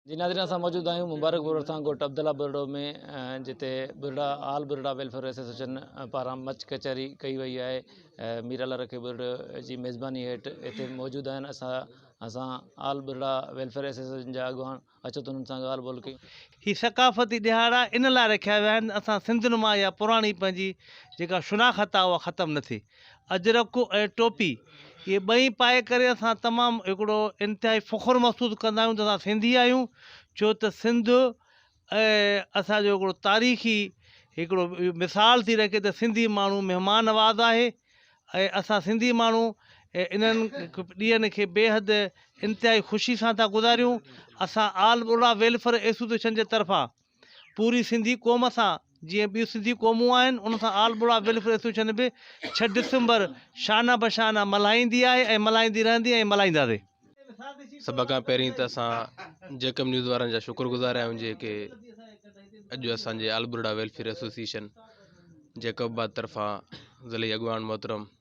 جي ناظرين اسان موجود آهيون مبارڪ پور ڀرسان ڳوٺ عبدالله ٻرڙو ۾ جتي ٻرڙا آل ٻرڙا ويلفيئر ايسوسيئيشن پاران مچ ڪچهري ڪئي وئي آهي مير الله رکي ٻرڙو جي ميزباني هيٺ هتي موجود آهن اسان اسان آل ٻرڙا ويلفيئر ايسوسيئيشن جا اڳواڻ اچو ته انهن سان ڳالهه ٻولهه ڪيون هي ثقافتي ڏهاڙا ان لاء رکيا ويا آهن اسان سنڌ نما يا پراڻي پنهنجي جيڪا شناخت آهي اها ختم نه ٿئي اجرڪ ۽ ٽوپي اهي ٻئي پائي ڪري اسان تمام هڪڙو انتهائي فخر محسوس ڪندا آهيون ته اسان سنڌي آهيون ڇو ته سنڌ اسان جو هڪڙو تاريخي هڪڙو مثال ٿي رکي ته سنڌي ماڻهو مهمان نواز آهي ۽ اسان سنڌي ماڻهو انهن ڏينهن کي بي حد انتهائي خوشي سان ٿا گذاريون اسان آل بروڙا ويلفيئر ايسوسيئيشن جي طرفان پوري سنڌي قوم سان جيئن ٻيون سنڌي قومون آهن ان سان آل ٻوڙا ويلفيئر ايسوسيئيشن به ڇهه ڊسمبر شانه به شانه ملهائيندي آهي ۽ ملهائيندي رهندي ۽ ملهائينداسي. سڀ کان پهرين ته اسان جيڪب نيوز وارن جا شڪر گذار آهيون جيڪي اڄ اسان جي all Burra welfare association Jacobabad طرفان ضلعي اڳواڻ محترم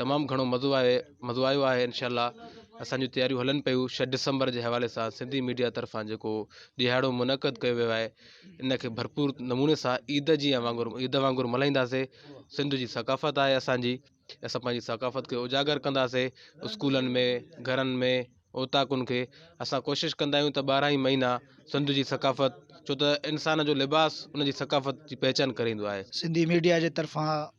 تمام گهڻو مزو آيو مزو آيو آهي انشاء الله اسانجو تياريون هلن پيون شھ ڊسمبر جي حوالي سان سنڌي ميڊيا طرفان جيڪو ڏيهاڙو منعقد ڪيو ويو آهي ان کي ڀرپور نموني سان عيد جي يا وانگر عيد وانگر ملهائينداسي سنڌ جي ثقافت آهي اسانجي اسان پنهنجي ثقافت کي اجاگر ڪنداسي اسڪولن ۾ گهرن ۾ اوطاقن کي اسان ڪوشش ڪندا آهيون ته ٻارهن ئي مهينا سنڌ جي ثقافت ڇو ته انسان جو لباس ان جي ثقافت جي پهچان ڪري ايندو آهي سنڌي ميڊيا جي طرفان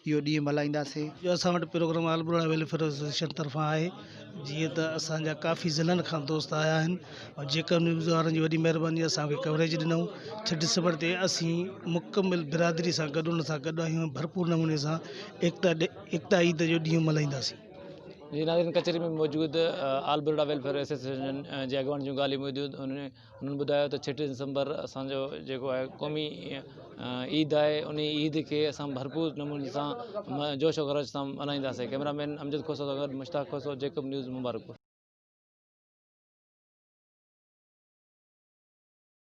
اهو ڏينهن ملهائينداسين. جو اسان وٽ programme all Burra welfare association طرفان آهي جيئن ته اسان جا ڪافي ضلعن کان دوست آيا آهن ۽ جيڪب نيوز وارن جي وڏي مهرباني جو اسان کي ڪوريج ڏنائون ڇهه ڊسمبر تي اسين مڪمل برادري سان گڏ ان سان گڏ آهيون ۽ ڀرپور نموني سان ايڪتا ڏي ايڪتا عيد جو ڏينهن ملهائينداسين. جي ناظرين ڪچهري ۾ موجود آل ٻرڙا ويلفيئر ايسوسيئيشن جي اڳواڻن جون ڳالهيون ٻڌيون انهن هنن ٻڌايو ته ڇهه ڊسمبر اسان جو جيڪو آهي قومي عيد آهي ان عيد کي اسان ڀرپور نموني سان جوش و خروش سان ملهائينداسين ڪيمرا مين امجد کوسو سان گڏ مشتاق کوسو جيڪب نيوز مبارڪ پور